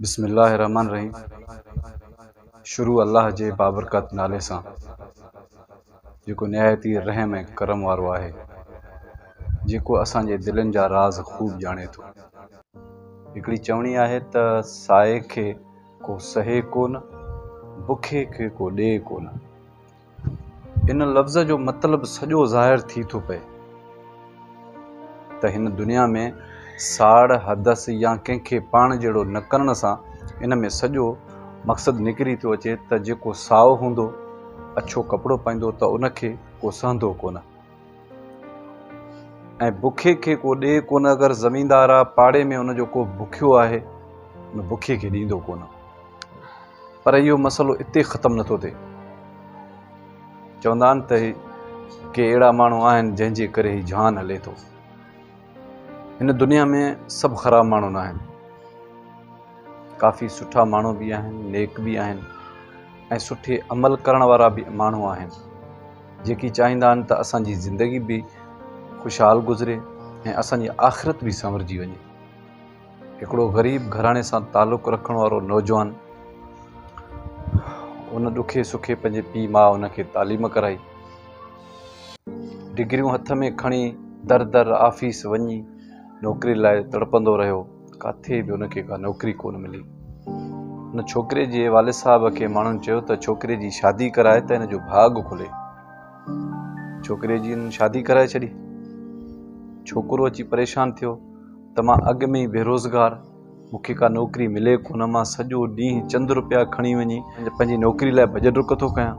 بسم الله الرحمٰن الرحيم شروع الله جي بابرڪت نالي سان جيڪو نهايت ئي رحم ۽ ڪرم وارو آهي جيڪو اسان جي دلين جا راز خوب ڄاڻي ٿو. هڪڙي چوڻي آهي ته سائي کي ڪو سهي ڪونه، بکي کي ڪو ڏئي ڪونه. ان لفظ جو مطلب سڄو ظاهر ٿي ٿو پئي ته هن دنيا ۾ ساڙ، حدث يا ڪنهن کي پاڻ جهڙو نه ڪرڻ سان ان ۾ سڄو مقصد نڪري ٿو اچي ته جيڪو سائو هوندو، اڇو ڪپڙو پائيندو ته ان کي ڪو سهندو ڪونه. ۽ بکي کي ڪو ڏي ڪونه اگر زميندار آ پاڙي ۾ ان جو ڪو بکيو آهي ان بکي کي ڏيندو ڪونه پر اهو مسئلو اتي ختم نٿو ٿئي چوندا آهن ته ڪي اهڙا ماڻهو آهن جنهن جي ڪري هي جهان هلي ٿو هن دنيا ۾ سڀ خراب ماڻهو نه آهن. ڪافي سٺا ماڻهو به آهن، نيڪ به آهن ۽ سٺي عمل ڪرڻ وارا به ماڻهو آهن، جيڪي چاهيندا آهن ته اسان جي زندگي به خوشحال گذري ۽ اسان جي آخرت به سنورجي وڃي. هڪڙو غريب گهراڻي سان تعلق رکڻ وارو نوجوان ان ڏکي سکي پنهنجي پيء ماء ان کي تعليم ڪرائي. ڊگريون هٿ ۾ کڻي در در آفيس وڃي نوڪري لاء تڙپندو رهيو. ڪاٿي به ان کي ڪا نوڪري ڪونه ملي. ان ڇوڪري جي والد صاحب کي ماڻهن چيو ته ڇوڪري جي شادي ڪرائي ته هن جو ڀاڳ کلي. ڇوڪري جي هن شادي ڪرائي ڇڏي. ڇوڪرو اچي پريشان ٿيو. ته مان اڳ ۾ ئي بيروزگار، مون کي ڪا نوڪري ملي ڪونه، مان سڄو ڏينهن چند روپيا کڻي وڃي پنهنجي نوڪري لاء ڀڄ ڊڪ ٿو ڪيان.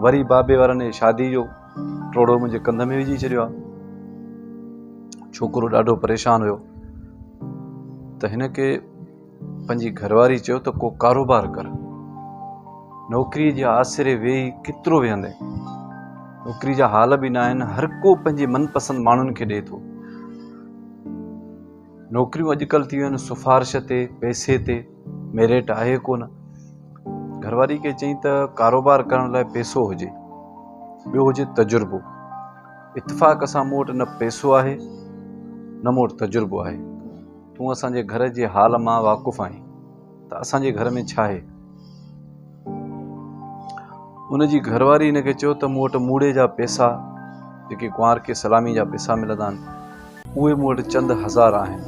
وري بابي وارن اهي شادي جو ٽوڙو منهنجي ڪنڌ ۾ وجهي ڇڏيو آهي. ڇوڪرو ڏاڍو پريشان هيو ته هن کي. پنهنجي گهرواري چيو ته ڪو ڪاروبار ڪر نوڪري جي آسري ويهي ڪيترو ويهندين نوڪري جا حال به نه آهن هر ڪو پنهنجي من پسند ماڻهن کي ڏئي ٿو نوڪريون اڄڪلهه ٿي ويون آهن سفارش تي پئسي تي ميريٽ آهي ڪو نه گهرواري کي چئي ته ڪاروبار ڪرڻ لاء پيسو هجي ٻيو هجي تجربو اتفاق سان مون وٽ نه پيسو آهي نه مون وٽ تجربو آهي تون اسان جي گهر جي حال مان واقف آهين ته اسان جي گهر ۾ ڇا آهي؟ ان جي گهر واري هن کي چيو ته مون وٽ موڙي جا پيسا جيڪي ڪنوار کي سلامي جا پيسا ملندا آهن اهي مون وٽ چند هزار آهن.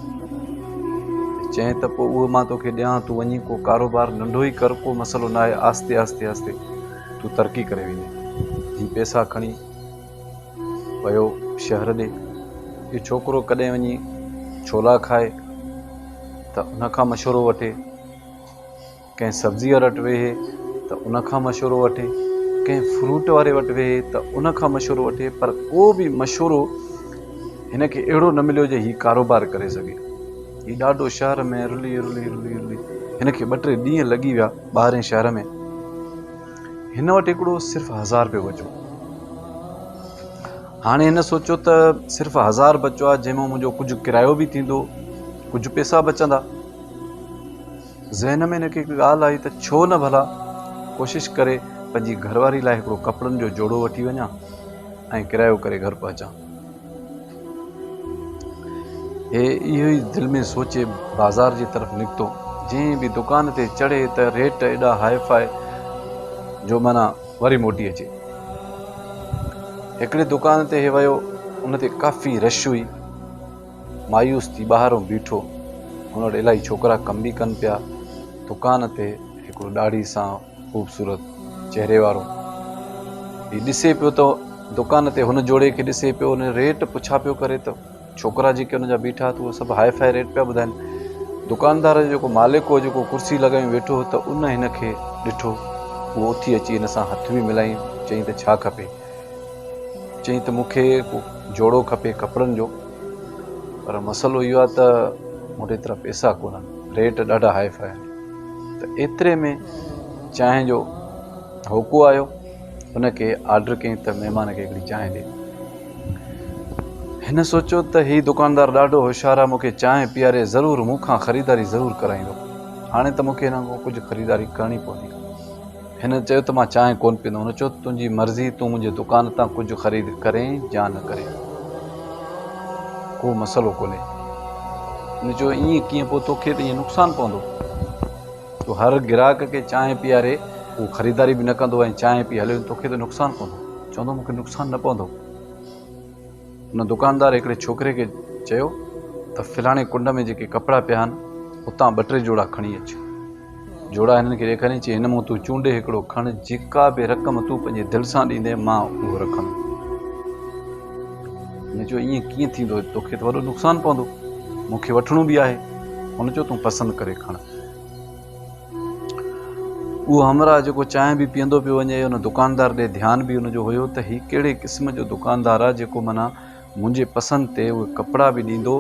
چيائين ته پوء اهي مان توکي ڏيان تون وڃي ڪو ڪاروبار ننڍو ئي ڪر ڪو مسئلو ناهي آهستي آهستي آهستي تون ترقي ڪري ويندين. هي پيسا کڻي ويو شهر ڏي. اهو ڇوڪرو ڪڏهن وڃي ڇولا کائي ته ان کان مشورو وٺي، ڪنهن سبزي واري وٽ ويهي ته ان کان مشورو وٺي، ڪنهن فروٽ واري وٽ ويهي ته ان کان مشورو وٺي پر ڪو به مشورو هن کي اهڙو نه مليو جو هي ڪاروبار ڪري سگهي. هي ڏاڍو شهر ۾ رلي رلي رلي رلي هن کي ٻه ٽي ڏينهن لڳي ويا ٻاهرين شهر ۾. هن وٽ هڪڙو صرف هزار رپيو بچو. هاڻي هن سوچيو ته صرف هزار بچو آهي جنهن مان منهنجو ڪجهه ڪرايو به ٿيندو ڪجهه پيسا بچندا. ذهن ۾ هن کي هڪ ڳالهه آئي ته ڇو نه ڀلا ڪوشش ڪري پنهنجي گهرواري لاء هڪڙو ڪپڙن جو جوڙو وٺي وڃان ۽ ڪرايو ڪري گهر پهچان. هي اهو ئي دل ۾ سوچي بازار جي طرف نڪتو. جئين به دڪان تي چڙهي ته ريٽ ايڏا هاء فاء جو معنيٰ وري موٽي اچي. هڪڙي دڪان تي هي ويو، ان تي ڪافي رش هئي. مايوس ٿي ٻاهرئون بيٺو. هن وٽ الاهي ڇوڪرا ڪم به ڪن پيا. دڪان تي هڪڙو ڏاڙهي سان خوبصورت چهري وارو هي ڏسي پيو ته دڪان تي هن جوڙي کي ڏسي پيو ان ريٽ پڇا پيو ڪري ته ڇوڪرا جيڪي هن جا بيٺا اهي سڀ هاء فاء ريٽ پيا ٻڌائين دڪاندار جو جيڪو مالڪ هو جيڪو ڪرسي لڳايو ويٺو هو ته ان هن کي ڏٺو اهو اٿي اچي هن سان هٿ به ملائي چئي ته ڇا کپي چئي ته مون کي جوڙو کپي ڪپڙن جو پر مسئلو اهو آهي ته مون وٽ ايترا پئسا ڪونهن ريٽ ڏاڍا هاء فاء آهن ته ايتري ۾ چانهه جو هوڪو آيو ان کي آرڊر ڪيائين ته مهمان کي هڪڙي چانهه ڏي هن سوچيو ته هي دڪاندار ڏاڍو هوشيار آهي مون کي چانهه پياري ضرور مون کان خريداري ضرور ڪرائيندو هاڻي ته مون کي هن کان ڪجهه خريداري ڪرڻي پوندي هن چيو ته مان چانهه ڪونه پيئندو. هن چيو ته تنهنجي مرضي تون منهنجي دڪان تان ڪجهه خريد ڪرين يا نه ڪرين ڪو مسئلو ڪونهي. هن چيو ائين ڪيئن پوء توکي ته ائين نقصان پوندو. تو هر گراهڪ کي چانهه پياري هو خريداري به نه ڪندو ۽ چانهه پي هليو ويندو توکي ته نقصان پوندو. چوندو مون کي نقصان نه پوندو. ان دڪاندار هڪڙي ڇوڪري کي چيو ته فلاڻي ڪنڊ ۾ جيڪي ڪپڙا پيا آهن اتان ٻه ٽي جوڙا کڻي اچ. جوڙا هنن کي ڏيکاريائين چيائين هن مان تون چونڊي هڪڙو کڻ جيڪا به رقم تون پنهنجي دل سان ڏيندين مان اهو رکندم. هن چيو ائين ڪيئن ٿيندو توکي ته وڏو نقصان پوندو مون کي وٺڻو به آهي. هن چيو تون پسند ڪري کڻ. اهو همراهه جيڪو چانهه به پيئندو پيو وڃي ان دڪاندار ڏي ڌيان به ان جو هيو ته هي ڪهڙي قسم جو دڪاندار آ جيڪو منا منهنجي پسند تي اهي ڪپڙا به ڏيندو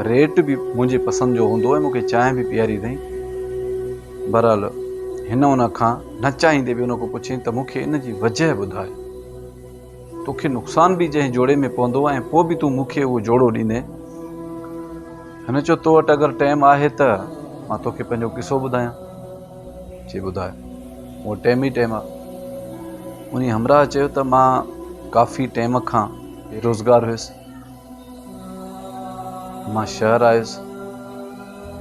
ريٽ به منهنجي پسند جو هوندو ۽ مونکي چانهه به پياري اٿئي برحال هن ان کان نه چاهيندي به ان کان پڇيائين ته مونکي ان جي وجهه ٻڌاء تو کي نقصان به جنهن جوڙي ۾ پوندو ۽ پوء به تون مون کي اهو جوڙو ڏيندين. هن چيو تو وٽ اگر ٽيم آهي ته مان تو کي پنهنجو قصو ٻڌايان. چي ٻڌاء. مون وٽ ٽيم ئي ٽيم آهي. انهي همراهه چيو ته مان ڪافي ٽيم کان بي روزگار هيس. مان شهر آيس.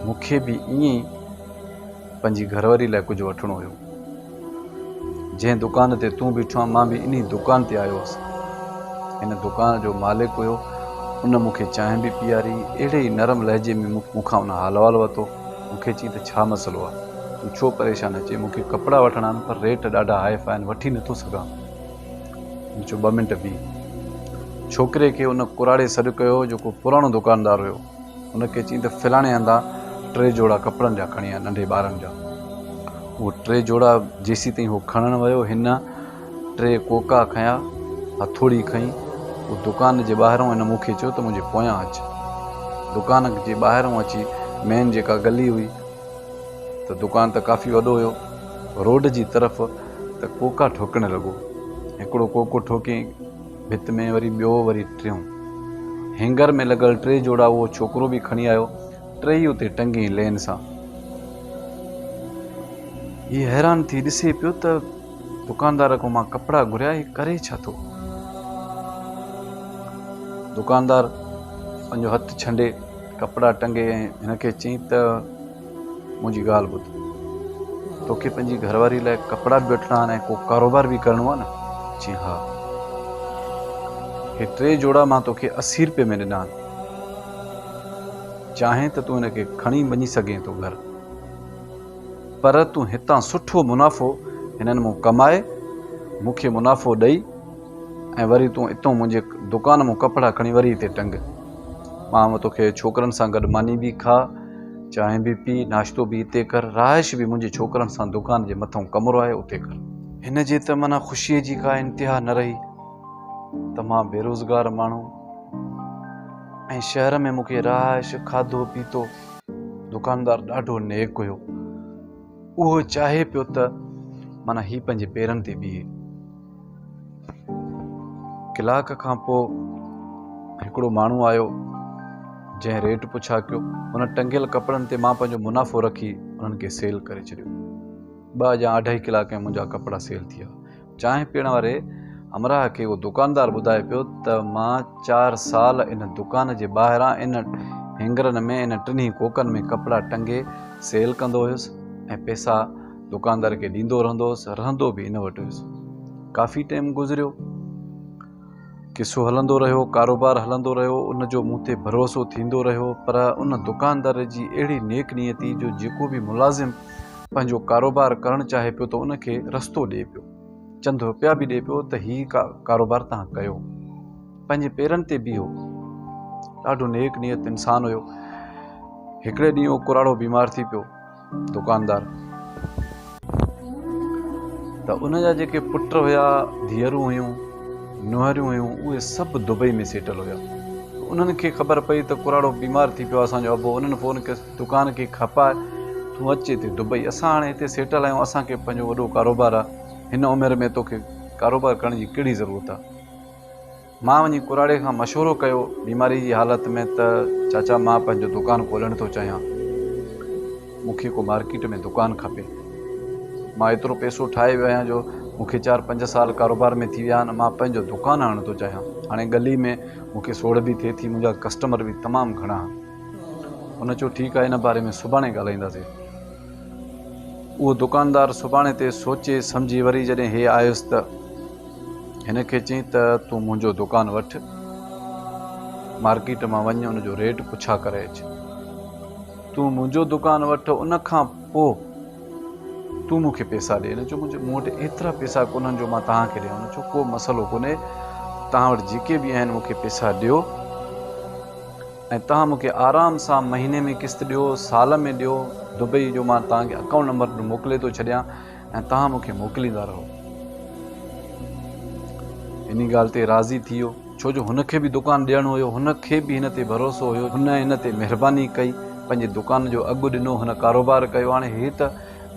مون کي به ائين ئي. پنهنجي گهرواري لاء ڪجهه وٺڻو هيو. جنهن دڪان تي تون بيٺو آهين، مان به انهي دڪان تي آيو هوس. هن دڪان جو مالڪ هيو. ان مون کي چانهه به پيئاري. اهڙي ئي نرم لهجي ۾ مون کان ان حال احوال ورتو. مون کي چيائين ته ڇا مسئلو آهي؟ تون ڇو پريشان آهين؟ چيائين مون کي ڪپڙا وٺڻا آهن پر ريٽ ڏاڍا هاء فاء آهن، وٺي نٿو سگهان. مون چيو ٻه منٽ بيهه. ڇوڪري کي ان ڪراڙي سڏ ڪيو، جيڪو پراڻو دڪاندار هيو. هن کي چيائين ته فلاڻي هنڌان ٽي جوڙا ڪپڙن جا کڻي آ ننڍي ٻارن جا. اهي ٽي جوڙا جيسين تائين هو کڻڻ ويو هن ٽي ڪوڪا کنيا، هٿوڙي کنئي، هو دڪان جي ٻاهرئون هن مون کي چيو ته منهنجي پويان اچ. دڪان جي ٻاهرئون اچي مين جيڪا گلي هئي ته دڪان ته ڪافي وڏو هيو روڊ جي طرف ته ڪوڪا ٺوڪڻ لڳو. هڪڙو ڪوڪو ٺوڪيائين. ڀت ۾ وري ٻيو وري ٽيون. هينگر ۾ لڳل ٽي جوڙا اهو ڇوڪرو به کڻي آيو. ٽيئي اتي ٽنگي لين سان. هي حيران ٿي ڏسي پيو ته دڪاندار کان مان ڪپڙا گهريا هي ڪري ڇا ٿو؟ دڪاندار پنهنجو هٿ ڇنڊي ڪپڙا ٽنگي ۽ هن کي چئي ته. منهنجي ڳالهه ٻڌ. توکي پنهنجي گهر واري لاء ڪپڙا به وٺڻا آهن ۽ ڪو ڪاروبار به ڪرڻو آهي نه؟ چيائين، ها. هي ٽي جوڙا مان توکي اسي رپئي ۾ ڏنا آهن. چاهين ته تون هن کي کڻي وڃي سگهين ٿو گهر. پر تون هتان سٺو منافعو هنن مون ڪمائي، مون کي منافعو ڏئي ۽ وري تون اتون منهنجي دڪان مون ڪپڙا کڻي وري هتي ٽنگ. ٻانهه توکي ڇوڪرن سان گڏ ماني به کاء، چانهه به پي، ناشتو به اتي ڪر، رهائش به منهنجي ڇوڪرن سان دڪان جي مٿئون ڪمرو آهي اتي ڪر. هن جي ته معنيٰ خوشيء جي ڪا انتها نه رهي ته مان بيروزگار ماڻهو ۽ شهر ۾ مون کي رهائش، کاڌو پيتو. دڪاندار ڏاڍو نيڪ هيو. اهو چاهي پيو ته معنيٰ هي پنهنجي پيرن تي بيهي. ڪلاڪ کان پوء هڪڙو ماڻهو آيو جنهن ريٽ پڇا ڪيو ان ٽنگيل ڪپڙن تي مان پنهنجو منافعو رکي انهن کي سيل ڪري ڇڏيو ٻه يا اڍائي ڪلاڪ ۾ منهنجا ڪپڙا سيل ٿيا چانهه پيئڻ واري همراهه کي اهو دڪاندار ٻڌائي پيو ته مان چار سال ان دڪان جي ٻاهران ان هينگرن ۾ ان ٽنهي ڪوڪن ۾ ڪپڙا ٽنگي سيل ڪندو هيس ۽ پئسا دڪاندار کي ڏيندو رهندو هوس، رهندو به ان وٽ هوس. ڪافي ٽيم گذريو. قصو هلندو رهيو، ڪاروبار هلندو رهيو، ان جو مون تي ڀروسو ٿيندو رهيو، پر ان دڪاندار جي اهڙي نيڪ نيتي جو جيڪو به ملازم پنهنجو ڪاروبار ڪرڻ چاهي پيو ته ان کي رستو ڏئي پيو، چند رپيا به ڏئي پيو ته هي ڪاروبار تهان ڪيو. پنهنجي پيرن تي بيهو. ڏاڍو نيڪ نيت انسان هيو. هڪڙي ڏينهن اهو ڪراڙو بيمار ٿي پيو. دڪاندار ته ان جا جيڪي پٽ هيا، ڌيئرون هيون، نونهريون هيون، اهي سڀ دبئي ۾ سيٽل هيا. انهن کي خبر پئي ته ڪراڙو بيمار ٿي پيو آهي، اسان جو ابو. انهن فون ڪيس ته دڪان کي کپائي تون اچ هتي دبئي. اسان هاڻي هتي سيٽل آهيون، اسان کي پنهنجو وڏو ڪاروبار آهي. هن عمر ۾ توکي ڪاروبار ڪرڻ جي ڪهڙي ضرورت آهي؟ مان وڃي ڪراڙي کان مشورو ڪيو، بيماري جي حالت ۾ ته چاچا مان پنهنجو دڪان کولڻ ٿو چاهيان، مون کي ڪو مارڪيٽ ۾ دڪان کپي. مان ايترو پئسو ٺاهي ويو آهيان جو مون کي چار پنج سال ڪاروبار ۾ ٿي ويا آهن، مان پنهنجو دڪان هڻڻ ٿو چاهيان. هاڻي ڳلي ۾ مون کي سوڙ به ٿئي ٿي، منهنجا ڪسٽمر به تمام گهڻا آهن. هن چيو ٺيڪ آهي ان باري ۾ سڀاڻي ڳالهائينداسين. اهو دڪاندار سڀاڻي تي سوچي سمجهي وري جڏهن هي آيس ته. هن کي چيائين ته تون منهنجو دڪان وٺ، مارڪيٽ مان وڃ ان جو ريٽ پڇا ڪري اچ. تون منهنجو دڪان وٺ ان کان پوء تون مون کي پيسا ڏي. هن چيو مون وٽ ايترا پيسا ڪونهن جو مان توهان کي ڏيان. هن چيو ڪو مسئلو ڪونهي توهان وٽ جيڪي به آهن مون کي پيسا ڏيو ۽ توهان مون کي آرام سان مهيني ۾ قسط ڏيو، سال ۾ ڏيو، دبئي جو مان توهان کي اڪائونٽ نمبر موڪلي ٿو ڇڏيان. ۽ توهان مون کي موڪليندا رهو. هن ڳالهه تي راضي ٿي ويو، ڇو جو هن کي به دڪان ڏيڻو هيو، هن کي به هن تي ڀروسو هيو، هن هن تي مهرباني ڪئي، پنهنجي دڪان جو اگهه ڏنو، هن ڪاروبار ڪيو، هاڻي هي ته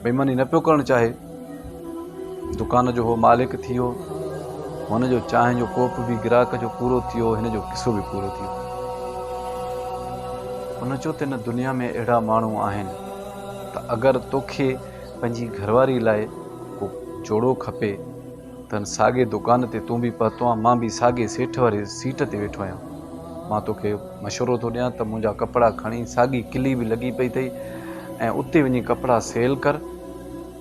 بيماني نه پيو ڪرڻ چاهي، دڪان جو هو مالڪ ٿي ويو، هن جو چانهه جو ڪوپ به گراهڪ جو پورو ٿي ويو، هن جو قصو به پورو ٿي ويو. هن چيو ته هن دنيا ۾ اهڙا ماڻهو آهن ته اگر توکي پنهنجي گهرواري لاء ڪو جوڙو کپي ته هن ساڳي دڪان تي تون به پهتو آهين مان به ساڳي سيٺ واري سيٽ تي ويٺو آهيان مان توکي مشورو ٿو ڏيان ته منهنجا ڪپڙا کڻي ساڳي ڪلي به لڳي پئي اٿئي ۽ اتي وڃي ڪپڙا سيل ڪر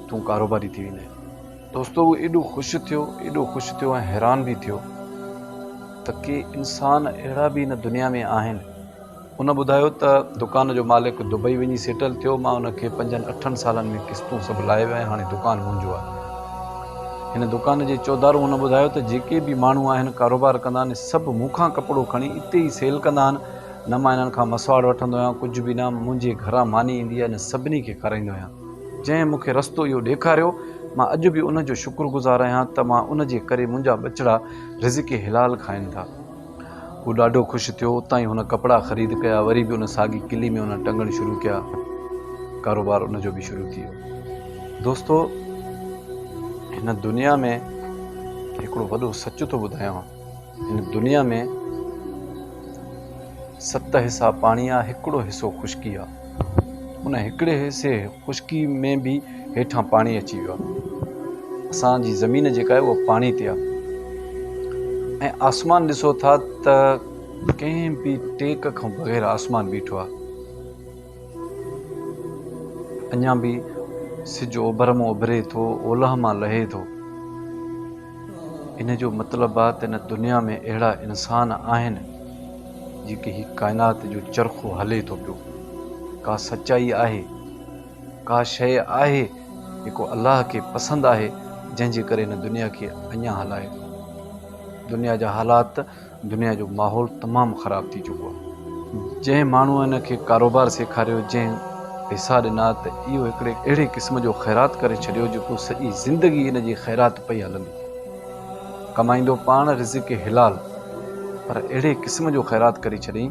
تون ڪاروباري ٿي ويندين. دوستو هو ايڏو خوش ٿيو ايڏو خوش ٿيو ۽ حيران به ٿيو ته ڪي انسان اهڙا به هن دنيا ۾ آهن. هن ٻڌايو ته دڪان جو مالڪ دبئي وڃي سيٽل ٿيو، مان هن کي پنجن اٺن سالن ۾ قسطون سڀ لاهي ويو ۽ هاڻي دڪان منهنجو آهي. هن دڪان جي چوڌارو هن ٻڌايو ته جيڪي به ماڻهو آهن ڪاروبار ڪندا آهن سڀ مون کان ڪپڙو کڻي اتي ئي سيل ڪندا آهن، نه مان انهن کان مسواڙ وٺندو آهيان ڪجهه به نه منهنجي گهران ماني ايندي آهي نه سڀني کي کارائيندو آهيان. جنهن مون کي رستو اهو ڏيکاريو مان اڄ به ان جو شڪر گذار آهيان ته مان ان جي ڪري منهنجا ٻچڙا رزق حلال کائن ٿا. هو ڏاڍو خوش ٿيو. اتان ئي هن ڪپڙا خريد ڪيا، وري به ان ساڳي قلعي ۾ هن ٽنگڻ شروع ڪيا. ڪاروبار ان جو به شروع ٿي ويو. دوستو! هن دنيا ۾ هڪڙو وڏو سچ ٿو ٻڌايان. هن دنيا ۾ ست حصا پاڻي آ، هڪڙو حصو خشڪي آ. ان هڪڙي حصي خشڪي ۾ به هيٺان پاڻي اچي ويو آهي اسان جي زمين جيڪا آهي اها پاڻي تي آهي ۽ آسمان ڏسو ٿا ته ڪنهن به ٽيڪ کان بغير آسمان بيٺو آهي اڃا به سج اوڀر مان اڀري ٿو اولهه مان لهي ٿو ان جو مطلب آهي ته هن دنيا ۾ اهڙا انسان آهن جيڪي هي ڪائنات جو چرخو هلي ٿو پيو، ڪا سچائي آهي، ڪا شيء آهي جيڪو الله کي پسند آهي جنهن جي ڪري هن دنيا کي اڃان هلائي ٿو. دنيا جا حالات، دنيا جو ماحول تمام خراب ٿي چڪو آهي. جنهن ماڻهوء هن کي ڪاروبار سيکاريو، جنهن پيسا ڏنا ته اهو هڪڙي اهڙي قسم جو خيرات ڪري ڇڏيو جيڪو سڄي زندگي هن جي خيرات پئي هلندي. ڪمائيندو پاڻ رزق حلال پر اهڙي قسم جو خيرات ڪري ڇڏين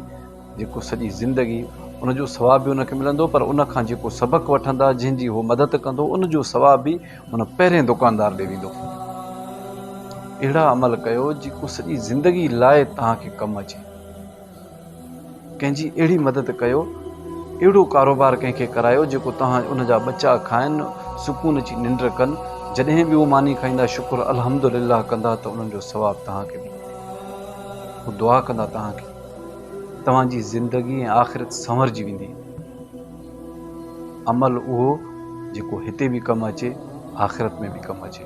جيڪو سڄي زندگي ان جو ثواب به ان کي ملندو پر ان کان جيڪو سبق وٺندا جنهن جي هو مدد ڪندو ان جو ثواب به ان پهرين دڪاندار ڏي ويندو اهڙا عمل ڪيو جيڪو سڄي زندگي لاء توهان کي ڪم اچي. ڪنهن جي اهڙي مدد ڪيو، اهڙو ڪاروبار ڪنهن کي ڪرايو جيڪو توهان ان جا ٻچا کائن، سڪون جي ننڊ ڪن، جڏهن به هو ماني کائيندا شڪر الحمد لله ڪندا ته انهن جو ثواب توهان کي به ملندو. هو دعا ڪندا توهان کي توهان جي زندگي ۽ آخرت سنورجي ويندي. عمل اهو جيڪو هتي به ڪم اچي آخرت ۾ به ڪم اچي.